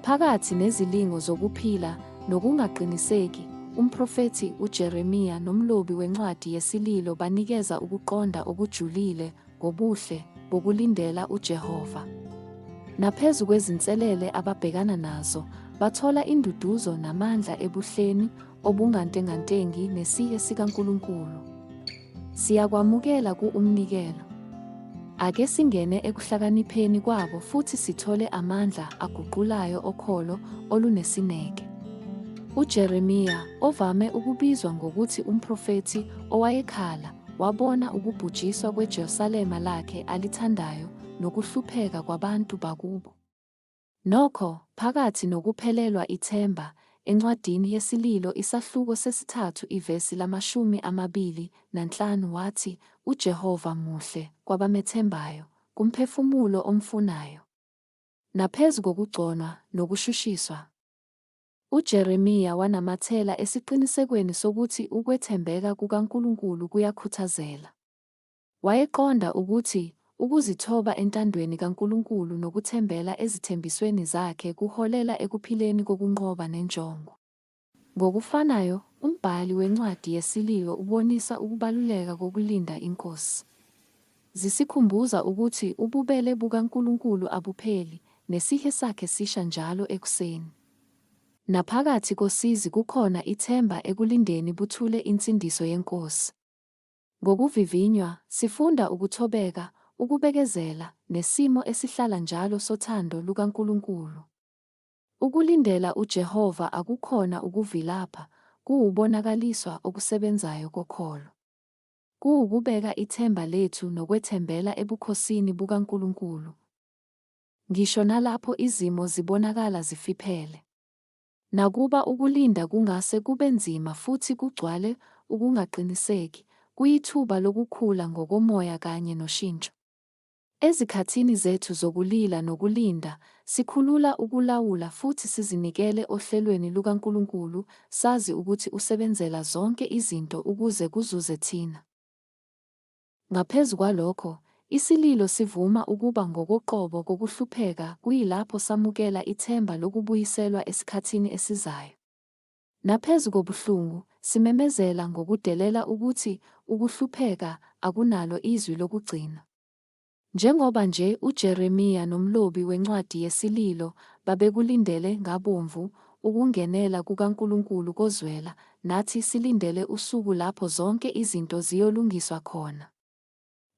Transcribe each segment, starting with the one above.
Phakathi nezilingo zokuphila nokungaqiniseki, umprofethi uJeremiya nomlobi wencwadi yeSililo banikeza ukuqonda okujulile ngobuhle bokulindela uJehova. Naphezu kwezinselele ababhekana nazo, bathola induduzo namandla ebuhleni obungantengantengi nesihe sikaNkulunkulu. Siyakwamukela ku umnikelo. Ake singene ekuhlakanipheni kwabo futhi sithole amandla aguqulayo okholo olunesineke. UJeremiya, ovame ukubizwa ngokuthi umprofethi owayekhala, wabona ukubhujiswa kweJerusalema lakhe alithandayo nokuhlupheka kwabantu bakubo. Nokho, phakathi nokuphelelwa ithemba, encwadini yeSililo isahluko sesithathu ivesi lamashumi amabili nanhlanu wathi, UJehova muhle kwabamethembayo, kumphefumulo omfunayo. Naphezu kokugconwa nokushushiswa, uJeremiya wanamathela esiqinisekweni sokuthi ukwethembeka kukaNkulunkulu kuyakhuthazela. Wayeqonda ukuthi ukuzithoba entandweni kaNkulunkulu nokuthembela ezithembisweni zakhe kuholela ekuphileni kokunqoba nenjongo. Ngokufanayo, umbhali wencwadi yeSililo ubonisa ukubaluleka kokulinda iNkosi. Zisikhumbuza ukuthi ububele bukaNkulunkulu abupheli, nesihe sakhe sisha njalo ekuseni. Naphakathi kosizi kukhona ithemba ekulindeni buthule insindiso yeNkosi. Ngokuvivinywa, sifunda ukuthobeka, ukubekezela, nesimo esihlala njalo sothando lukaNkulunkulu. Ukulindela uJehova akukhona ukuvilapha, kuwubonakaliswa okusebenzayo kokholo. Kuwukubeka ithemba lethu nokwethembela ebukhosini bukaNkulunkulu, ngisho nalapho izimo zibonakala zifiphele. Nakuba ukulinda kungase kube nzima futhi kugcwale ukungaqiniseki, kuyithuba lokukhula ngokomoya kanye noshintsho. Ezikhathini zethu zokulila nokulinda, sikhulula ukulawula futhi sizinikele ohlelweni lukaNkulunkulu, sazi ukuthi usebenzela zonke izinto ukuze kuzuze thina. Ngaphezu kwalokho, isililo sivuma ukuba ngokoqobo kokuhlupheka kuyilapho samukela ithemba lokubuyiselwa esikhathini esizayo. Naphezu kobuhlungu, simemezela ngokudelela ukuthi ukuhlupheka akunalo izwi lokugcina. Njengoba nje uJeremiya nomlobi wencwadi yeSililo babekulindele ngabomvu ukungenela kukaNkulunkulu kozwela, nathi silindele usuku lapho zonke izinto ziyolungiswa khona.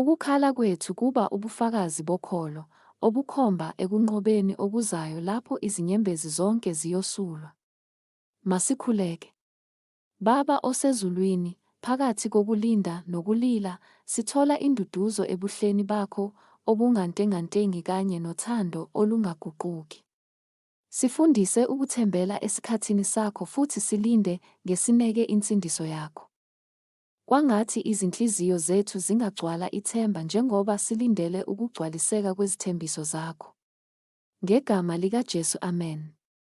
Ukukhala kwethu kuba ubufakazi bokholo, obukhomba ekunqobeni okuzayo lapho izinyembezi zonke ziyosulwa. Masikhuleke. Baba oseZulwini, phakathi kokulinda nokulila, sithola induduzo ebuhleni baKho obungantengantengi kanye nothando olungaguquki. Sifundise ukuthembela esikhathini saKho futhi silinde ngesineke insindiso yaKho. Kwangathi izinhliziyo zethu zingagcwala ithemba njengoba silindele ukugcwaliseka kwezithembiso zaKho. NgeGama likaJesu, amen.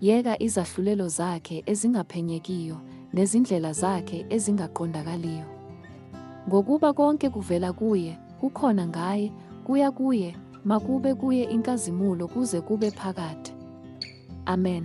Yeka izahlulelo zakhe ezingaphenyekiyo nezindlela zakhe ezingaqondakaliyo! Ngokuba konke kuvela kuye, kukhona ngaye, kuya kuye, makube kuye inkazimulo kuze kube phakade. Amen.